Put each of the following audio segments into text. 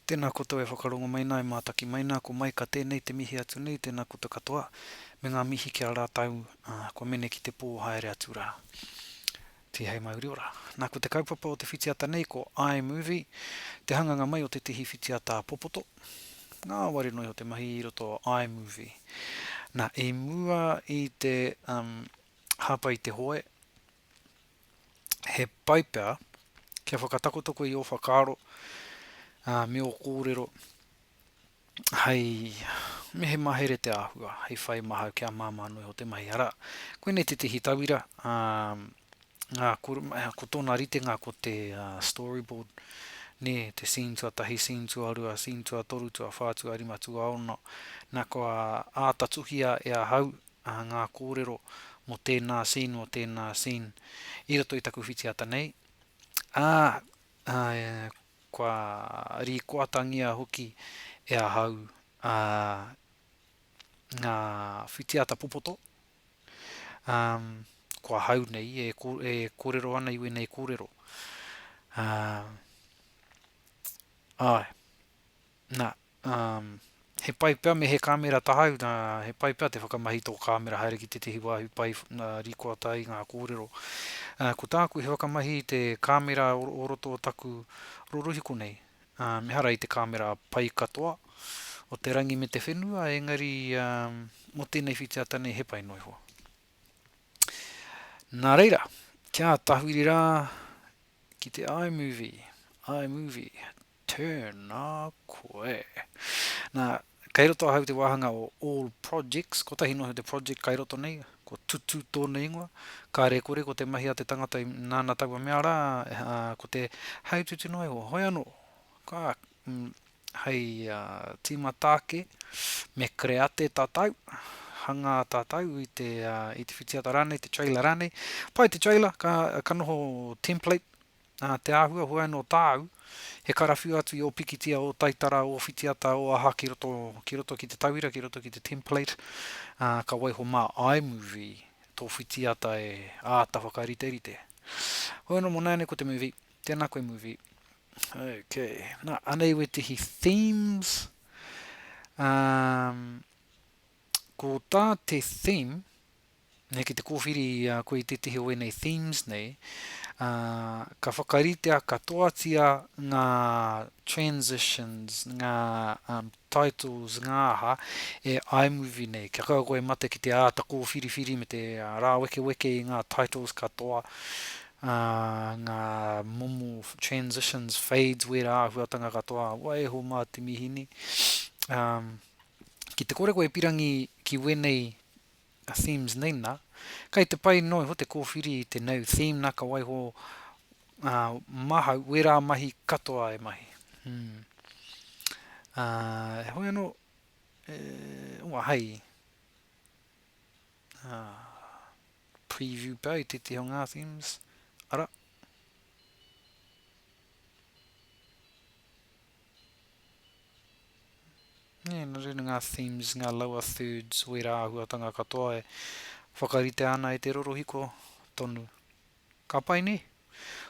Tena koutou e whakarongo mai na e mataki mai na ko Maika tenei te mihi atu nei tena koutou katoa me nga mihi ki a ratou a kua mene ki te po haere atu ra. Tihei mauri ora. Na ko te kaupapa o te whitiata nei ko I movie, te hanganga mai o te tihi whitiata a Popoto. Ngaware no iho te mahi i roto I movie. Na i mua i te hapa i te hoe He pai pea kia whakatakotakoi i ō whakaaro, ā, me ō kōrero hei me he mahere te āhua, hei whai mahau kia māmā noa iho te mahi. Arā, koinei tētehi tauira, ā, ngā kore, ko tōna ritenga ko te storyboard, nē, te scene tuatahi, scene tuarua, scene tuatoru, tuawhā, tuarima, tuaono, nā kua āta tuhia e ahau ā ngā kōrero mō tēnā scene mō tēnā scene i roto i taku whitiata nei, ā, ā, kua rīkoatangia hoki e ahau, ā, ngā whitiata popoto, ā, ko ahau nei e, e kōrero ana i wēnei kōrero, ā, āe. Na, um, he pai pea me he kamera tahau, na, he pai pea te whakamahi tō kamera haere ki tētehi wāhi pai na, rikoata ai ngā kōrero. Uh, ko tāku he whakamahi i te kamera o, o roto o taku rorohiko nei. Um, ehara i te kamera pai katoa o te rangi me te whenua, engari, um, mō tēnei whitiata nei he pai noa iho. Na reira, kia tahuri rā ki te iMovie, iMovie, Tēnā koe. Nā, kei roto ahau i te wāhanga o All Projects, kotahi noa iho te project kai roto nei, ko Tutu tōna ingoa, kāre e kore ko te mahi a te tangata i nāna taua mea rā, ā, ko te hei tutu noa iho, hoi anō, ka, mm, hei, ā, tīmata ake, me kreate tātou, hangā tātou i te, ā, i te whitiata rānei, te trailer rānei, pai te trailer, ka, ka noho template, Nā te āhua hoe anō tāu, he karawhiu atu i ō pikitia, ō taitara, ō whitiata, ō aha ki roto, ki roto ki te tauira, ki roto ki te template, ā, ka waiho mā iMovie tō whitiata e āta whakariterite. Hoe anō mō nāianei ko te movie. Tēnā koe movie. Ok, nā, anei wētehi themes. Um, ko tā te theme, nei ki te kōwhiri i a koe i tētehi o ēnei themes nei, ā, ka whakaritea katoatia ngā transitions, ngā um, titles, ngā aha, e iMovie nei. Kia kaua koe e mate ki te āta kōwhiriwhiri me te ā, rāwekeweke i ngā titles katoa, ā, ngā momo transitions, fades, wērā āhuatanga katoa, waiho mā te mihini. Um, ki te kore koe e pirangi ki wēnei a themes nei na, kei te pai noa iho te kōwhiri i te nau theme na ka waiho a mahau wera mahi katoa e mahi. Hmm. A, hoi ano, e, ua hai. A, preview pea i tētehi o ngā themes. Ara. Nē, nō reira ngā themes, ngā lower thirds o ērā āhuatanga katoa e whakaritea ana e te rorohiko tonu. Ka pai, nē?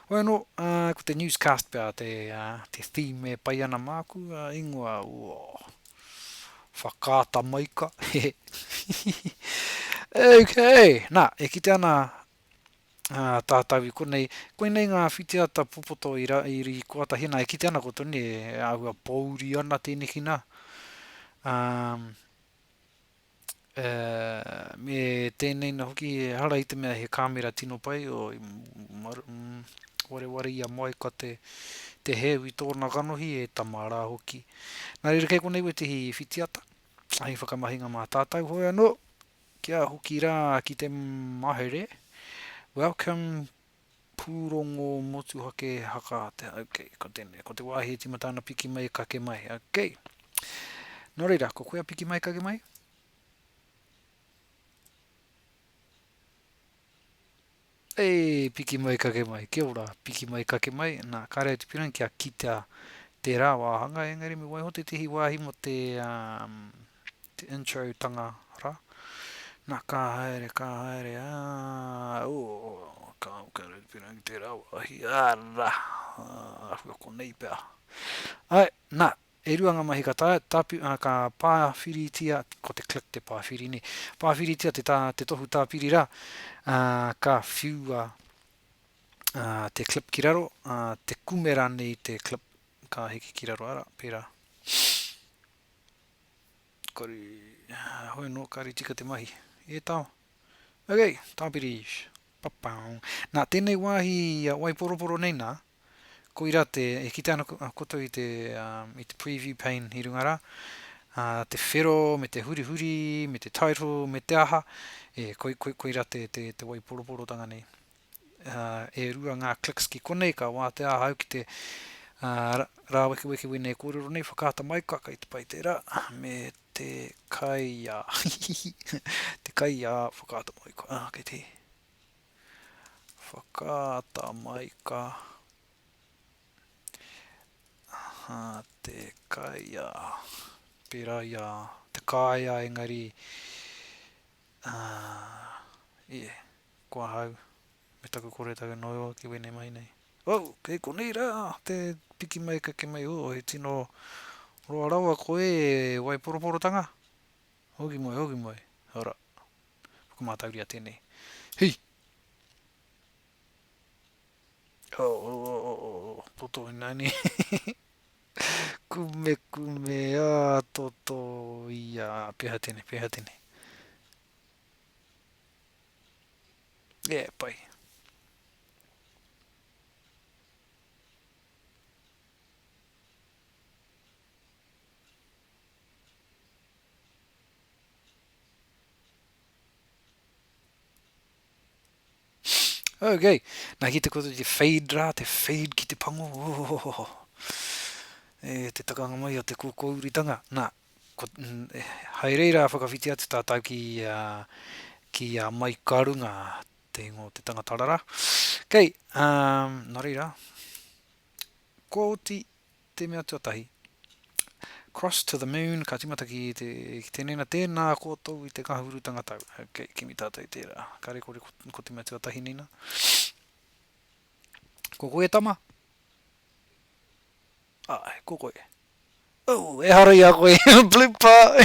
Hoi anō, ā, ko te newscast pea te, ā, te theme e pai ana māku, ā, ingoa, ooh, Whakaata Maika, hehe, hihihi. Okay, nā, e kitea ana Ā tātau i konei, koinei ngā whitiata popoto i ra, i koatahi ana, e kite ana koutou nē, e āhua pōuri ana tēneki nā, ā, ē, me tēnei nā hoki ehara i te mea he kāmera tino pai, oi, mar, mm, wareware ia moe ka te, te heu i tōna kanohi, e tama rā hoki. Nā reira kei konei wētehi whitiata, hei whakamahinga mā tātau, hoi anō, Kia hoki rā ki te mahere. Welcome Pūrongo Motuhake Haka Atea Ok, ko tēnei, ko te wāhi e tīmata ana piki mai kake mai Ok, nō reira, ko koe a piki mai kake mai? Ei, piki mai kake mai. Kia ora, piki mai kake mai. Na, kare au te pirangi kia kita tera wahanga, engari me waiho tetehi wahi mo te, um, te intro tanga ra. Na, ka haere, ka haere, ah, ooh, ka au kare au te pirangi tera wahi, ara, ahua konei pea. Ae, na, E rua ngā mahi ka tāpi, ka pāwhiritia, ko te click te pāwhiri nei, pāwhiritia te tā, te tohu tāpiri rā, ā, ka whiua, ā, te clip ki raro, ā, te kume rānei te clip ka hiki ki raro, arā, pērā. Kore, hoi anō, kāore tika te mahi. E tau. Okay, tāpiri. Pa-pow. Nā, tēnei wāhi, ā, waiporoporo nei nā, Koira te, e kite ana koutou i te, i te preview pane i runga rā, te whero me te hurihuri, me te title, me te aha, e, koi, koi, koira te, te, te waiporoporotanga nei. E rua ngā clicks ki konei, ka wātea ahau ki te, ra, rāwekeweke wēnei e kōrero nei, whakaata mai koe, kei te pai tērā, me te kaiā, hihihihi, te kaiā, whakaata mai koe, ā, kei te. Whakaata mai ka aha te kaea, pera i a te kaea engari ahh e, ko ahau me taku koretau no roa ki wene mai nei. Oh! Kei konei ra te piki mai ka ke mai oh he tino roa rawa koe e Waiporoporotanga! Hoki mai, hoki mai, ara. Whakamātauria tēnei. Hi! Oh, oh, oh, oh, oh, oh. Toto inani. kume, kume, ah, toto, ia, peha tēnei, peha tēnei. Yeah, pai. Ok, nā ki te koto te fade rā, te fade ki te pango, ohohoho. E, te takanga mai o te kōkōuritanga. Nā, ko, mm, e, hai reira whakawhiti atu tātou ki, uh, ki a uh, mai ka runga te ingo te tangata rara. Kei, um, nā reira, kōti te mea tuatahi, Cross to the moon, ka timata ki te, ki te nena, tēnā koutou i te ngahurutanga tau. Ok, kimi tātou i tērā. Ka rekore ko, ko te mea tuatahi nina. Ko koe e tama? Ai, ko koe. Oh, e hara i a koe, blooper!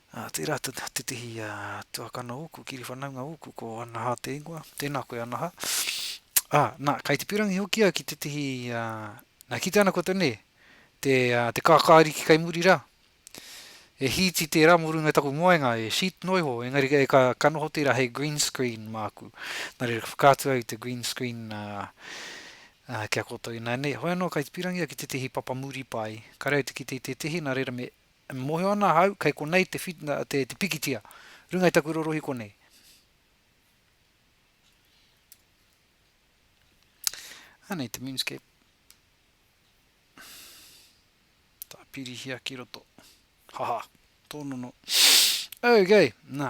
Ā, tērā te tētehi tuakana ōku, kiriwhanaunga ōku, ko Anaha te ingoa, tēnā koe Anaha. Ā, nā, kei te pīrangi hoki au ki tētehi, ā, nā, kitea ana koutou, nē, te, ā, te kākāriki kei muri rā, e hīti tērā mō runga i taku moenga, e sheet noa iho, engari e ka, ka noho tērā hei green screen māku. Nā reira, ka whakaatu au i te green screen, ā, ā, ki a koutou ināianei. Hoi anō, kei te pīrangi au ki tētehi papa muri pai, kāre au te kite i tētehi, nā reira me, E mōhio ana ahau kei konei te te pikitia runga i taku rorohi konei. Anei te moonscape. Tāpirihia ki roto. Haha, tōnono. Okay, nā,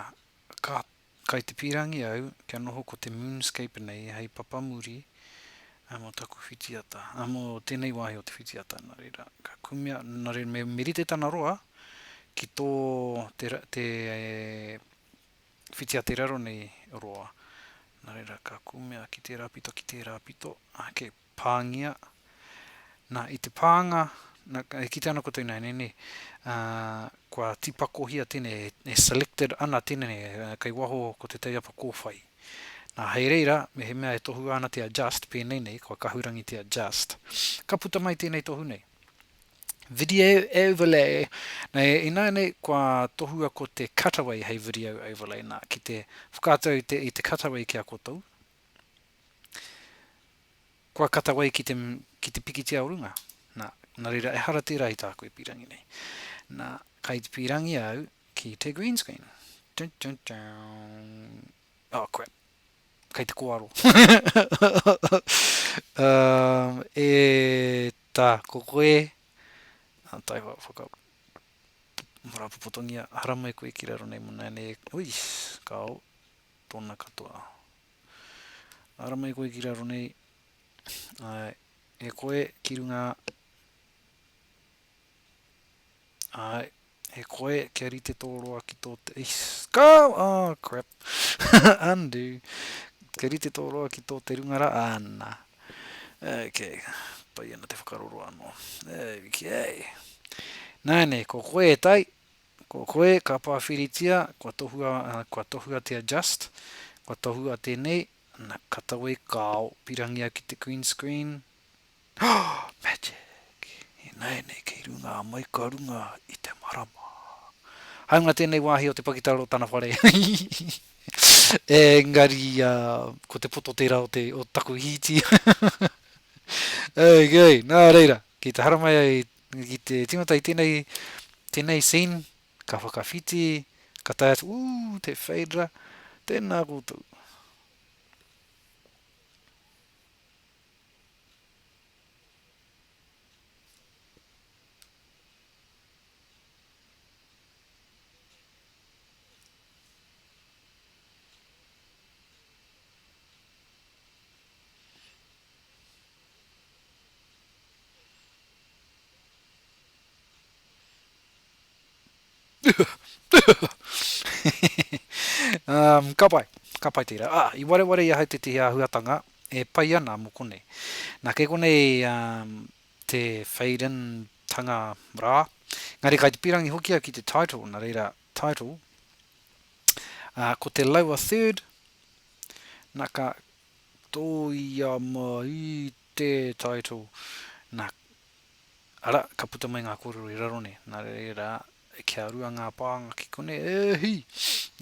ka Kai te pīrangi au kia noho ko te moonscape nei hei papamuri mo taku whitiata, mo tenei wahi o te whitiata, na reira, ka kumea, na reira me, me rite tana roa ki tō te, te whitiata i raro nei roa, na reira, ka kumea ki tērā pito, ki tērā pito, ake, pāngia, nā, i te pānga, nā, e kitea ana koutou ināianei, nē, ā, kua tīpakohia tēnei, e selected ana tēnei, kei waho ko te teiapa kōwhai. Nā, hei reira, mehemea e tohua ana te adjust, pēnei nei, kua kahurangi te adjust. Ka puta mai tēnei tohu nei. Video overlay, nā, ināianei, kua tohua ko te cutaway hei video overlay, nā, ki te whakaatu au i te, i te cutaway ki a koutou, Kua katawai ki te, ki te pikitia o runga. Na, na reira, ehara tera i taku e pirangi nei. Na, kai te pirangi au ki te green screen. Dun, dun, dun. Oh, crap. Kai te koaro. um, e, ta, ko koe, a tai hoa whaka, marapopotongia, haramai koe ki raro nei mona nei, ui, kao, Tōna katoa. Ara mai koe ki raro nei, ā, e koe ki runga, ā, e koe kia rite tō roa ki tō te, eish, ka, oh, crap, undo, kia rite tō roa ki tō te runga rā, ā, nā. Ok, pai ana te whakaroro anō. Okay. Nāne, ko koe e tai, Ko koe ka pāwhiritia, kua tohua, kua tohuatia just, kua tohua tēnei, na, ka tawe i kāo, pirangia ki te green screen, oh, magic, ināianei kei runga a Maika runga i te marama. Hāunga tēnei wāhi o te pakitara o tana whare, engari, ko te poto tērā o te, o taku hīti, okay, nā reira. Ki te haramai ai ki te tingata i tenei tenei scene ka whakawhiti ka tae atu ooh te fade ra tena koutou. um, ka pai, ka pai tērā. Ah, i wareware i ahau tētehi āhuatanga e pai ana mō konei. Nā, kei konei um, te fade-in tanga rā. Ngari kai te pirangi hoki au ki te title, nā reira, title. Uh, ko te lower third, nā ka, Tōia mā i te title. Nā, arā, ka puta mai ngā kōrero i raro nei. Nā reira, kia rua ngā pānga ki konei, e hī!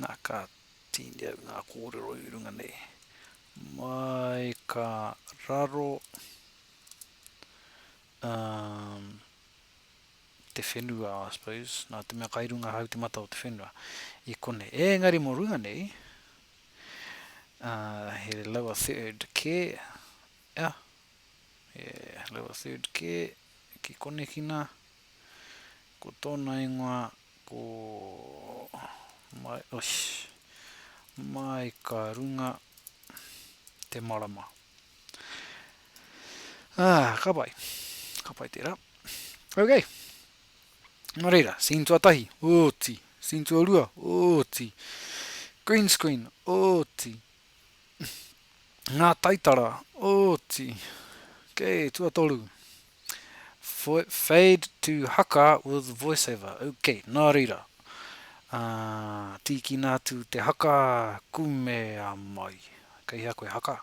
Nā, ka tīni au ngā kōrero i runga nei. Mai ka raro, umm, te whenua, I suppose, nā te mea kai runga hau te mata o te whenua i konei. Ēngari mō runga nei, He lower third kē, ia, he lower third kē ki konekina, ko tōna ingoa ko Mai, osh, Mai ka runga te marama. Ā, ka pai, ka pai tērā. Okay. Nō reira, scene tuatahi, oti, scene tuarua, oti, green screen, oti, ngā taitara, oti, okay, tuatoru, fade to haka with voiceover, okay, nā reira, uh, tīkina atu te haka, kumea mai, kei hea koe haka,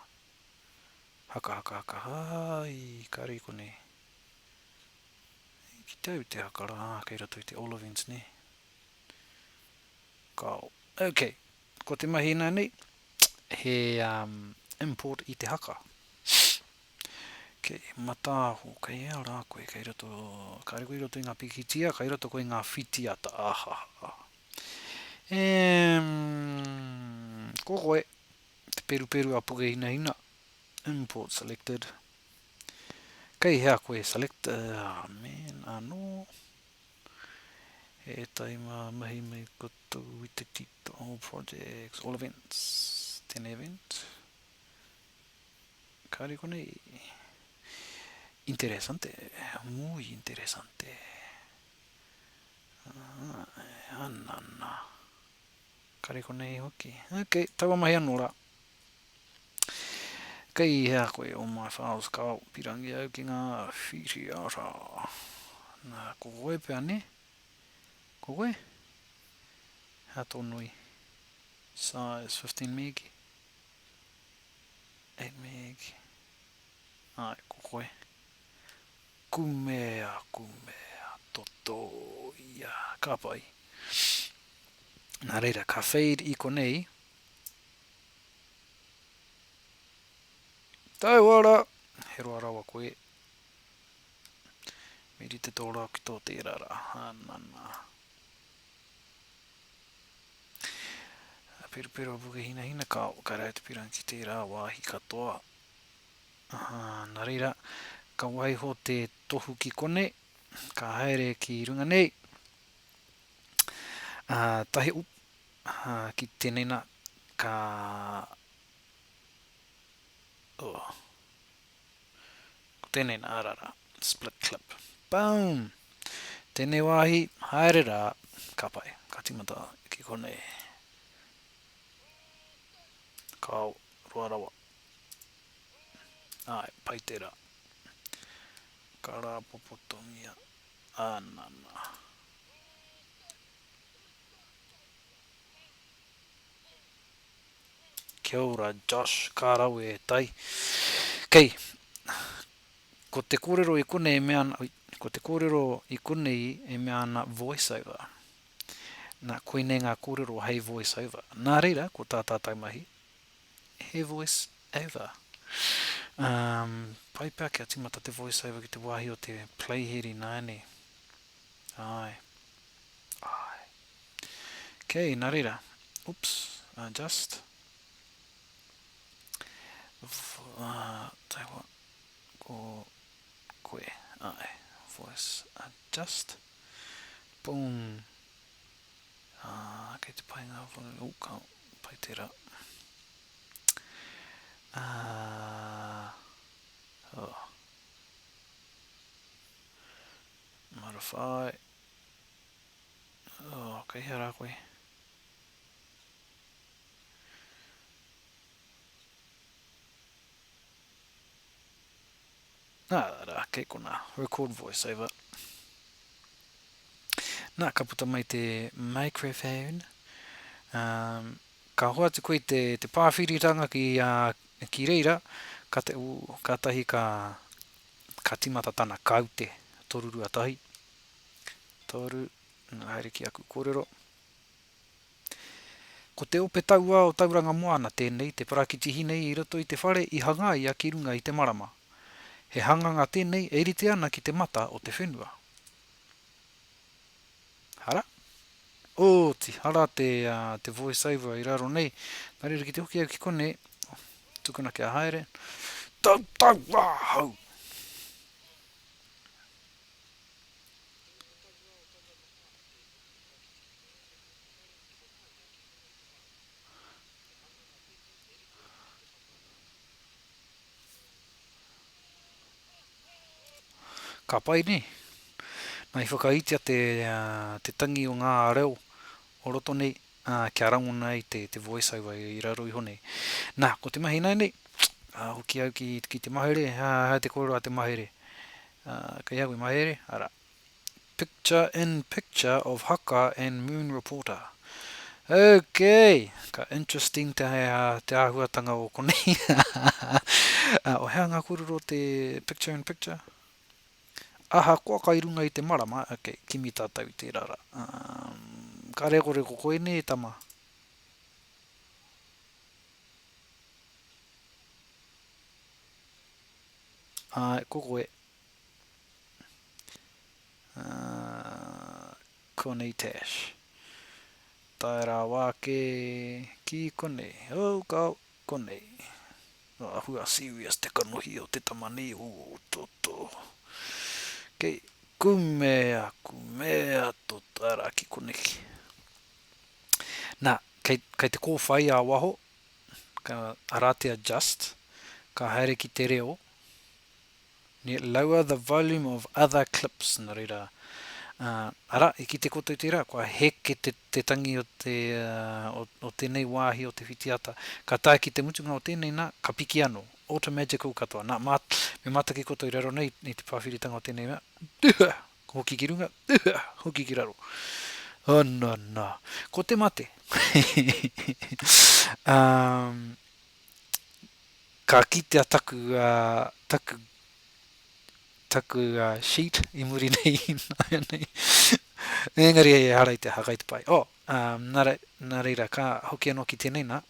haka, haka, haka, hai, kare konei, Ki te au te haka rā, kei roto i te olivines nē. Ka, ok, ko te mahi ina nei, he um, import i te haka. Kei mataaho, kei ea rā koe, kei roto, kāre koe i roto i ngā pikitia, kei roto koe i ngā whitiata, ahaha. E, um, ko koe, te peruperu a Pukehina Hina, import selected, Kei hea koe select amen anō He ētahi mā mahi mai koutou i te tito all projects all events tēnei event kāore konei interesante muy interesante ānana Kare konei hoki. Ok, taua mahi anō rā. Kei hea koe o my files ka pirangi au ki ngā whiriara. Nā, ko koe pea ne? Ko koe? Hea tō nui? Size 15 meg? 8 meg? Ai, ko koe. Kumea, kumea, totō ia, ka pai. Nā reira, ka fade i konei. Taua rā! He roa rawa koe. Me rite tō rā ki tō tērā rā. Ana nā. Perupero a Pukehinahina, kāo, kare ai te pirangi ki tērā wāhi katoa. Aha, na reira, ka waiho te tohu ki konei, ka haere ki runga nei, a, tahi, oop, aha, ki tenei na, ka, oh, ko tenei na, ara ra, split clip, boom! Tenei wahi, haere ra, ka pai, ka timata ki konei. Kao, roa rawa, Ae, pai te ra. Ka rapopotongia a Nana. Kia ora, Josh. Ka rawe e tai. Kei. Ko te korero i konei e mea ana, oi, ko te korero i konei e mea ana voiceover. Na, koinei nga korero hei voiceover. Na reira, ko ta tatou mahi, He voice over. Um, pai pea kia timata te voice over ki te wahi o te play head inaene. Ae. Ae. Kei, na reira. Oops, uh, just. Uh, tell what, ko koe, ae, voice adjust. Boom. Ah, kei te pai ngā whakaaro, oh, ka pai tērā. Ah, oh. Marawhai. Oh, kei hea rā koe. Ā rā, kei konā. Record voiceover. Nā, ka puta mai te microphone. Um, ka hoatu koe te, te pāwhiritanga ki, uh, ki reira, ka te, ū, ka tahi ka, ka timata tana kaute, toru rua tahi. Toru, nā, haere ki aku kōrero. Ko te ope tauā o Tauranga Moana tēnei te parakiti hine i roto i te whare i hangaia ki runga i te marama. He hanganga tēnei e rite ana ki te mata o te whenua. Hara? Oti, hara te, uh, te voiceover i raro nei. Nā reira ki te hoki au ki konei, tukuna kia haere. Tau, tau, wā, hau! Ka pai ne? Na i whakaitia te te tangi o nga reo o roto nei kia rangona ai te te voiceover i raro iho nei. Na, ko te mahi ina nei, a hoki au ki ki te mahere, he aha te korero a te mahere? Kei hau e mahere, ara, Picture in picture of haka and moon reporter Ok, ka interesting te te ahuatanga o konei O hea nga korero te picture in picture? Ahakoa kai runga i te marama Ok, kimi tatou i tera ra Umm ka rekoreko koe ne tama? Ae, ko koe. Connie Tash. Tae rāwa ake ki konei. Oh, ka konei. Nō ahua serious te kanohi o te tama nei o Toto. Kei, kumea, kumea Toto, arā ki koneki. Nā, kei, kei te kōwhai ā waho, ka, arā te adjust, ka haere ki te reo, Ne lower the volume of other clips, na reira, ā, arā, i kite koutou tērā, kua heke te, te tangi o te, ā, o, o tēnei wāhi o te whitiata, ka tae ki te mutunga o tēnei, nā, ka piki anō, automagical katoa, nā, mā, me mātaki koutou i raro nei i te pāwhiritanga o tēnei mea, duhua, hoki ki runga, duhua, hoki ki raro. Ana, nā, ko te mate. Ā, Ka kitea taku taku taku sheet i muri nei ināianei engari ehara i te aha kai te pai oh nā nā reira ka hoki anō ki tēnei nā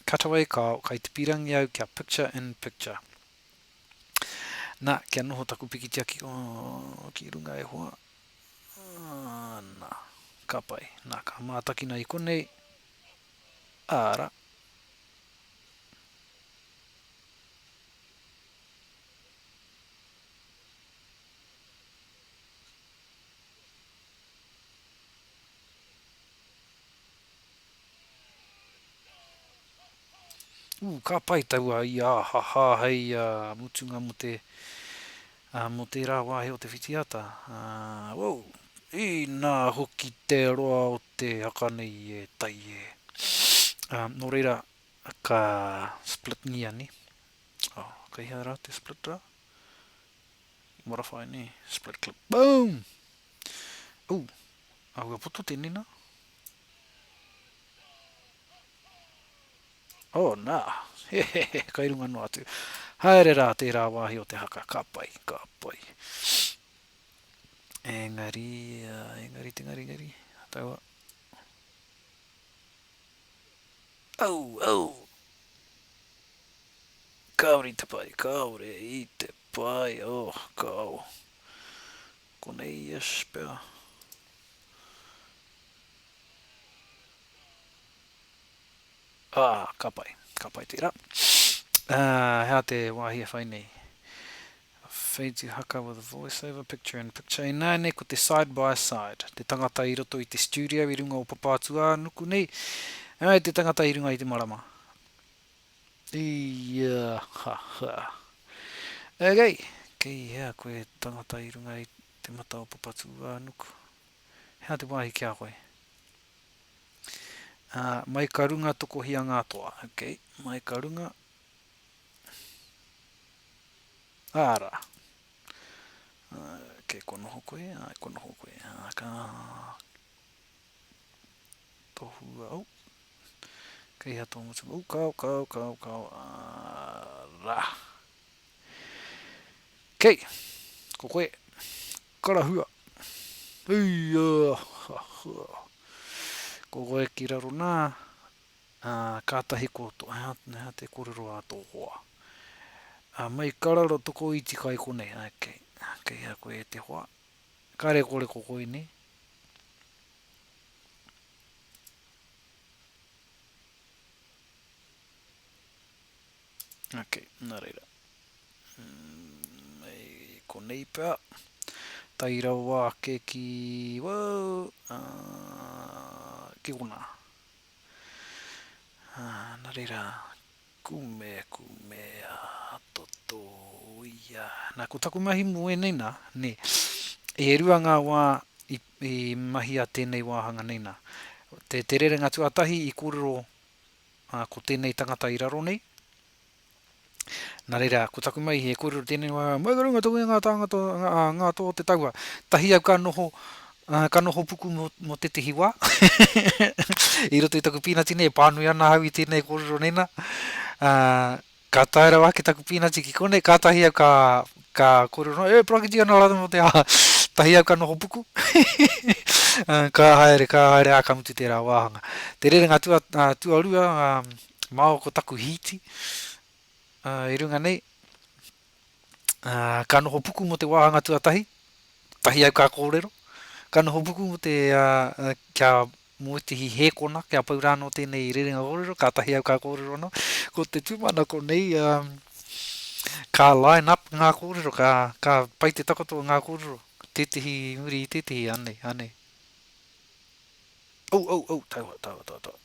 cutaway ka kai te pīrangi au kia picture in picture nā kia noho taku pikitia ki oh ki runga e hoa ah nā ka pai nā ka mātakina i konei ara Ooh ka pai taua i ahaha hei mutunga mo te mo tera wahi o te whitiata, woow! Inā hoki te roa o te haka nei i e tai e. Nō reira, ka split ngia nei. Oh, kei hea rā te split rā? What if I nei? Split clip. Boom! Ooh, ahua poto tēnei nā. Oh, nā. He, he, he, kai runga noa atu. Haere rā tērā wāhi o te haka. Ka pai, ka pai. Engari, engari te ngari ngari, ataua. Au, au! Kaori te pai, kaore i te pai, oh, kao. Konei, yes, pea. Ah, ka pai, ka pai tera. Ah, hea te wahi e whai nei. Wheiji Haka with voiceover, picture in picture Ināianei ko te side by side, te tangata i roto i te studio i runga o Papātuānuku nei, ā, te tangata i runga i te marama. Ia ha ha. Okay, kei hea koe tangata i runga i te mata o Papatūānuku? He aha te wāhi ki a koe? Ā, mai ka runga tokohia ngā toa. Okay, mai ka runga, Ā rā. Ok, kua noho koe, āe, kua noho koe. Ā, ka tohua, oh, ka iha tō ngutu, oh, kāo, kāo, kāo, kāo, ā rā. Ok, ko koe, karahua. Ui, ā, ha, ha. Ko koe ki raro nā, Ā, kātahi ko Toheaneha te kōrero a tō hoa. Ā, mai ka raro toko iti kai konei, ā, kei, kei hea koe e te hoa? Ka rekoreko koe nei? Ok, nā reira. Mai konei pea. Tai rawa ake ki, wau, ā, ki konā. Ā, nā reira, kume, kume, ā, toto, uia. Nā, ko taku mahi mō ēnei nā, nē, e rua ngā wā i, i mahia tēnei wāhanga nei nā. Te, te rerenga tuatahi i kōrero, ā, ko tēnei tangata i raro nei, Na reira, ko taku mai he korero tenei wa, mai ka runga toku e nga tangata, a nga to te taua, tahi au ka noho, ka noho puku mo, mo tetehi wa, i roto i taku pinati nei, e panui ana au i tenei korero nei na, a, ka tae rawa ake taku pinati ki konei, katahi au ka, ka korero noa, e parakiti ana ratou mo te aha, tahi au ka noho puku, ka haere, ka haere, a ka mutu tera wahanga. Te rerenga tua, tuarua, a, Māo ko taku hīti i runga nei. Ka noho puku mō te wāhanga tuatahi, tahi au ka kōrero. Ka noho puku mō te, kia mō ētehi hēkona, kia pau rā anō tēnei rerenga kōrero, kātahi au ka kōrero anō. Ko te tūmanako nei, ka line up ngā kōrero, ka pai te takoto o ngā kōrero, tētehi i muri i tētehi, anei, anei. Ou, ou, ou, taua, taua, taua, taua.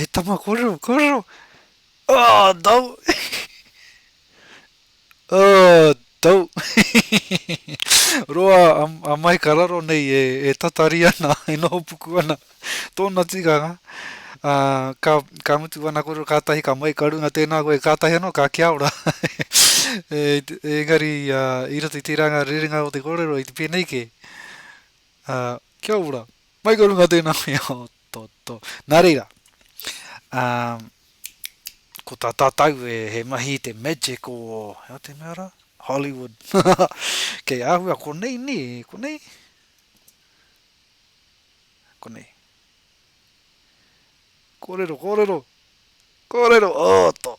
E tama koro, koro. Oh, no. oh, no. Roa, am, amai ka raro nei e, e tatari ana, e noho puku ana. Tōna tikanga, ā, ka, ka mutu ana kōrero kātahi ka mai, ka runga tēnā koe, kātahi anō ka kia ora. e, engari, ā, i roto i tērā ngā rerenga o te kōrero, i te pēnei kē, ā, kia ora, mai ka runga tēnā koe, o, tō, tō. Nā reira, ā, ko tā tātou e, he mahi i te magic o, he aha te mea rā? Hollywood. Kei āhua, konei nē, konei? Konei. Kōrero, kōrero! Kōrero! Ōtō!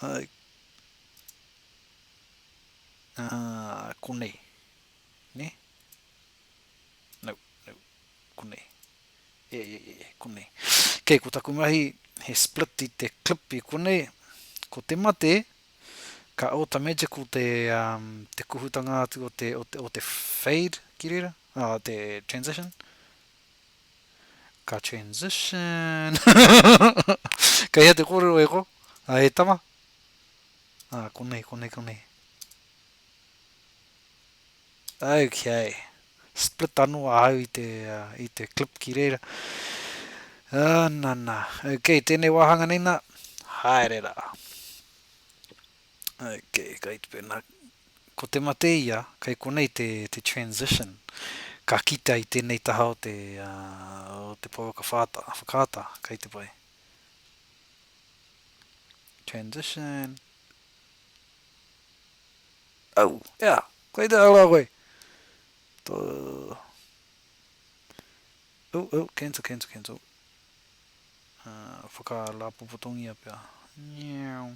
Ai. Ā, konei. Nē? No, no. Konei. E, e, e, e, konei. Kei, ko taku mahi, he split i te clip i konei. Ko te mate, ka auto-magical te, um, te kuhutanga atu o te, o te, o te fade ki reira. Ā, te transition. Ka transition. Kei hea te kōrero e ko, a e tama? Ā, konei, konei, konei. Okay. Split anō ahau i te, uh, i te clip ki reira. Ā, nā, nā. Okay, tēnei wāhanga nei nā. Haere rā. Ko te mate ia, kei konei te transition, ka kitea i tēnei taha o te pouaka whakaata, kei te pai. Transition. Au, ea, kei te ara koe. Tō. Au, au, cancel, cancel, cancel. Whakarāpopotongia pea. Niau.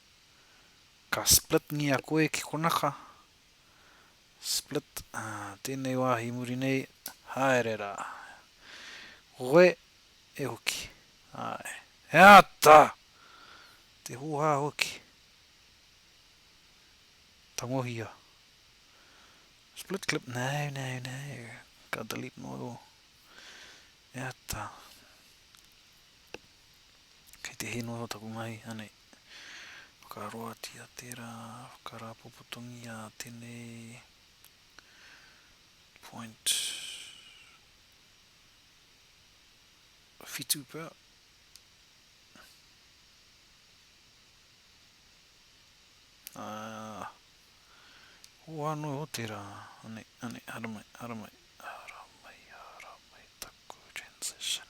Ka split ngia koe ki konaka. Split, tēnei wāhi i muri nei, haere rā. Koe, e hoki. Āe. He āta! Te hōhā hoki. Tangohia. Split clip, no, no, no. Ka delete noa rō. E āta. Kei te hē noa rō taku mahi, anei. Whakaroatia tērā, whakarāpopotongia tēnei point whitu pea. Ā, hoha noa iho tērā, ane, ane, haramai, haramai, haramai, haramai taku transition.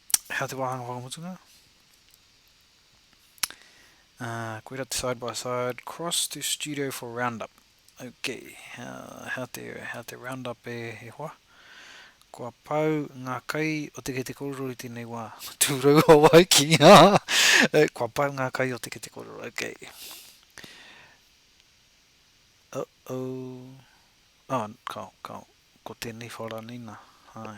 Hea te wāhanga whakamutunga? Uh, koira te side by side, cross to studio for roundup. Ok, hea, hea, te, hea te roundup e, e hoa? Kua pau ngā kai o te kete kororo i tēnei wā. Tūrau Hawaiki. Eh, kua pau ngā kai o te kete kororo. Ok. Uh-oh. Oh, kao, kao. Ko tēnei whara nei nā. Hai.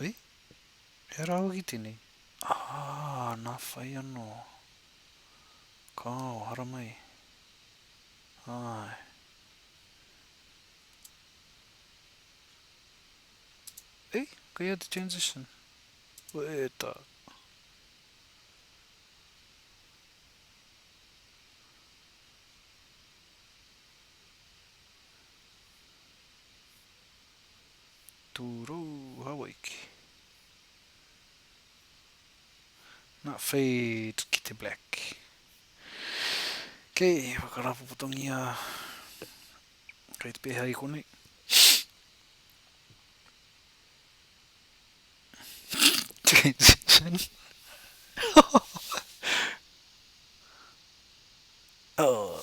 E? He ara hoki tenei? Aa, na whai ano. Kao, haramai. Ae. E? Kei a te transition? Wee ta. Tūrou Hawaiki Not fade ki te black Ok, whakarāpopotongia Kei te pēhea i konei Transition Oh,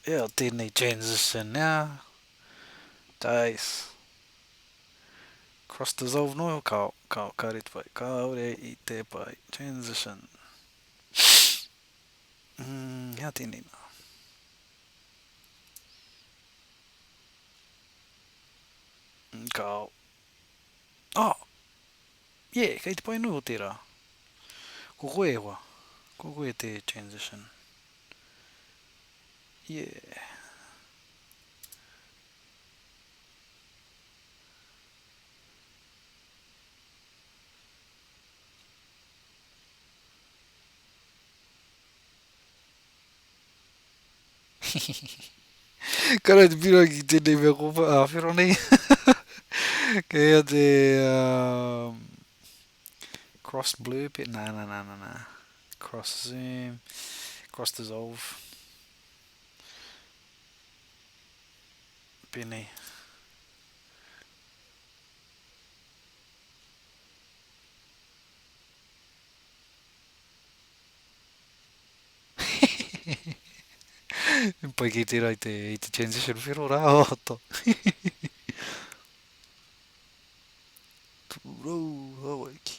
ea tēnei transition ea Tais. Cross dissolve noho ka ka ka ret pai kaore i te pai transition mm hea tēnei nā. Mm, ka ao. Ah! Yeah, kei te pai noho tērā. Ko koe e hoa. Ko koe te transition. Yeah. Kare te piro ki tēnei mea ko whero nei. Kei hea te um, cross blur pe, nā, nā, nā, nā, nā. Cross zoom, cross dissolve. Pēnei. Pai ki tērā i te, i te transition whero rā, o to. Tūrou, Hawaiki.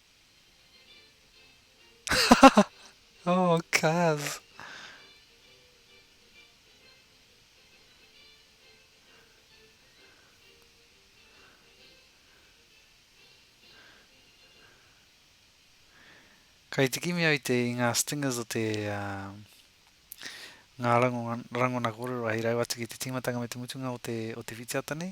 oh cuz. Kai te kimi au te i ngā stingers o te uh, ngā rangona, rangona kōrero hei rau atu ki te tīmatanga me te mutunga o te, o te whitiata nei.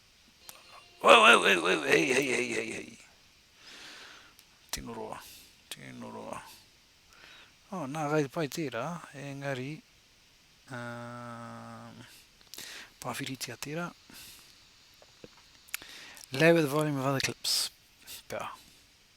Wau, wau, wau, wau, hei, hei, hei, hei, hei. Tino roa, tino roa. Oh, nā, kai te pai tērā, engari, uh, pāwhiritia tērā. Lower the volume of other clips. Pea.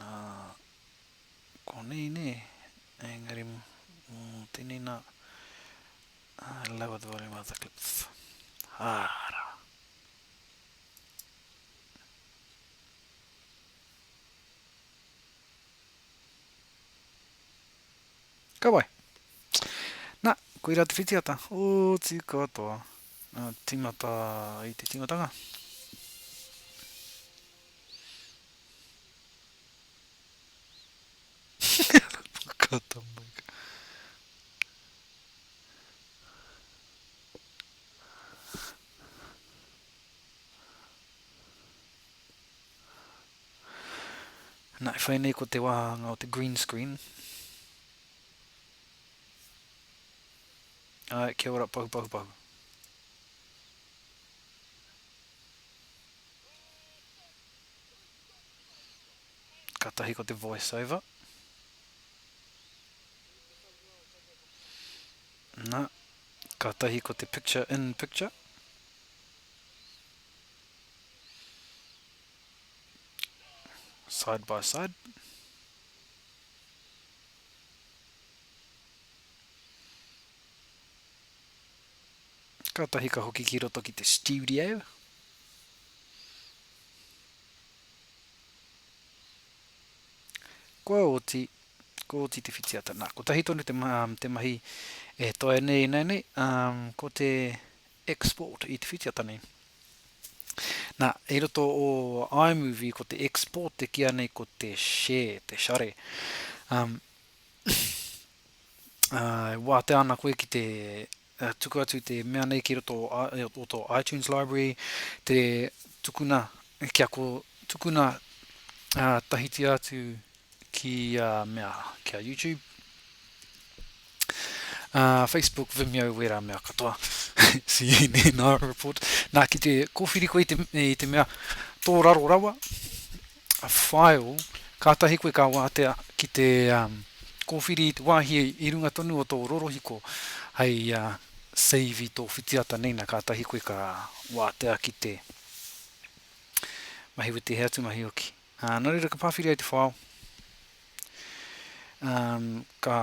Ā, konei nē, engari mō tēnei nā, ā, lawa te wāhi mātā clip. Ā, rā. Ka wai. Na, koira te whitiata. Oti katoa. Na, timata i te timatanga. Kata mai. Na, e whai nei ko te wāhanga o te green screen. Ai, kia ora pahu pahu pahu. Ka tahi ko te voice over. Na, ka tahi ko te picture in picture. Side by side. Kātahi ka hoki ki roto ki te studio. Kua oti, kua oti te whitiata. Nā, kotahi tonu te, um, te mahi e toa nei, nei, nei. Um, ko te Export i te whitiata nei. Na, i roto o iMovie ko te export e kīa nei ko te share, te share. Um, uh, e wātea ana koe ki te uh, tuku atu te mea nei ki roto o, o tō iTunes library, te tukuna, kia ko tukuna uh, tahitia atu ki a mea ki a YouTube uh, Facebook Vimeo wera mea katoa CNN Art Report nā ki te kōwhiri koe i te, i te mea tō raro rawa a file kātahi koe ka wātea ki te um, kōwhiri i te wāhi i runga tonu o tō rorohiko hei uh, save i tō whitiata nei na kātahi koe ka wātea ki te mahi witi he atu mahi oki Ā, nō reira ka pāwhiri ai te whao, ā, ka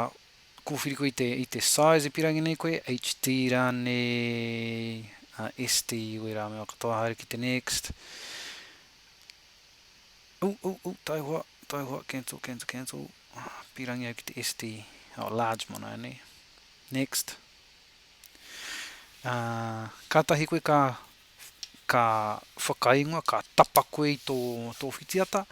kōwhiri koe i te, i te size e pīrangi nei koe, HD rānei, ā, SD, wē rā, me wā katoa haere ki te next. Ū, ū, ū, taihoa, taihoa, cancel, cancel, cancel, pīrangi au ki te SD, ā, large mō nāia nei, next. Ā, kātahi koe ka ka whakaingoa, ka tapa koe i tō tō whitiata,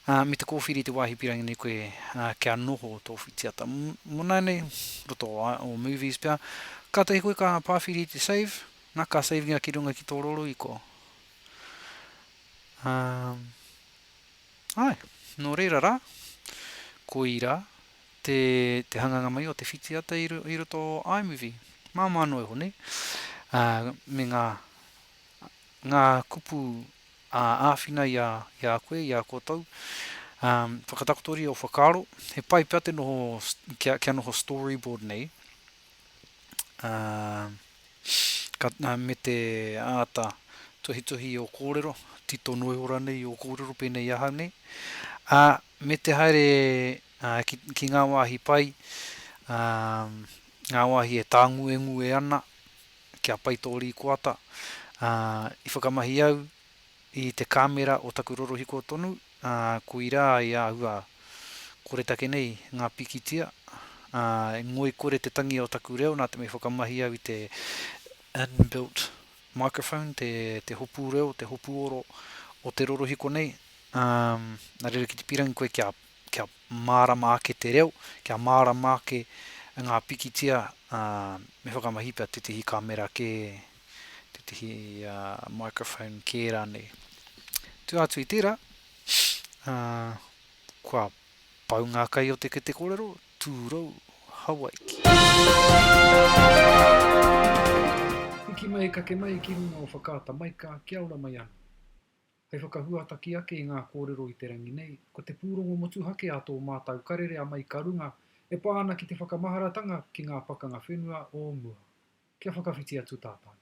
ā, me te kōwhiri i te wāhi pīrangi nei koe, ā, kia noho tō whitiata. Mona nei, roto o o Movies pea, kātahi koe ka pāwhiri i te save, na, ka save-inga ki runga ki tō roroiko. Ā, āe, nō reira rā, koirā, Te, te hanganga mai o te whitiata i, i roto o iMovie. Māmā noa iho nei. Ā, me ngā, ngā kupu ā, āwhina i a, i a koe, i a koutou. Ā, whakatakotoria ō whakaaro. He pai pea te noho, kia, kia noho storyboard nei. Ā, ka, ā, me te āta tuhituhi i ō kōrero, tito noiho rānei i ō kōrero pēnei i ahau nei. Ā, me te haere ā, ki, ki ngā wāhi pai, ā, ngā wāhi e tānguengue ana ki a Pai Tō Rīkoata, ā, i whakamahi au i te kāmera o taku rorohiko tonu, ā, koirā i āhua koretake nei ngā pikitia, ā, i ngoikore te tangi o taku reo nā te mea i whakamahi au i te inbuilt microphone, te, te hopu reo, te hopu oro o te rorohiko nei, ā, nā reira ki te pīrangi koe kia. kia mārama ake te reo, kia mārama ake ngā pikitia, ā, me whakamahi pea tētehi kāmera kē, tētehi microphone kē rānei. Tua atu i tērā, ā, kua pau ngā kai o te kete kōrero, tūrou, Hawaiki. Hiki mai, kake mai ki runga o Whakaata Maika, kia ora mai anō. Hei whakahuataki ake i ngā kōrero i te rangi nei, ko te pūrongo motuhake a tō mātau karere a Mai Ka Runga e pā ana ki te whakamaharatanga ki ngā pakanga whenua o mua. Kia whakawhiti atu tātau.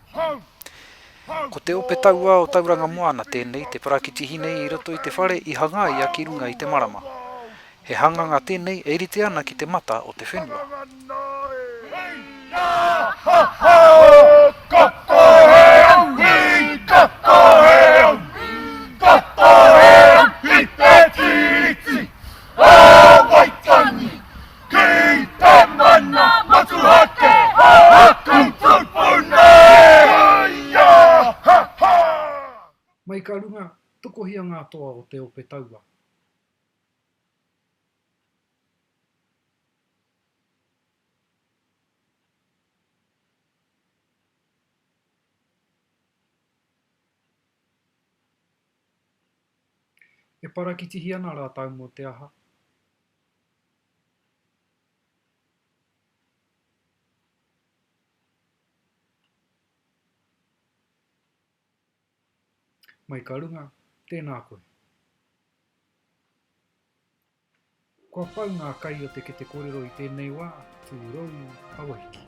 Ko te ope tauā o Tauranga Moana tēnei te parakitihine i roto i te whare i hangaia ki runga i te marama. He hanganga tēnei e rite ana ki te mata o te whenua. Ki te mana motuhake o aku tupuna e ia. Mai ka runga, tokohia ngā toa o te ope taua. E parakitihi ana rātou mō te aha? Mai ka runga, tēnā koe. Kua pau ngā kai o te kete korero i tēnei wā, tūrou, awahiki.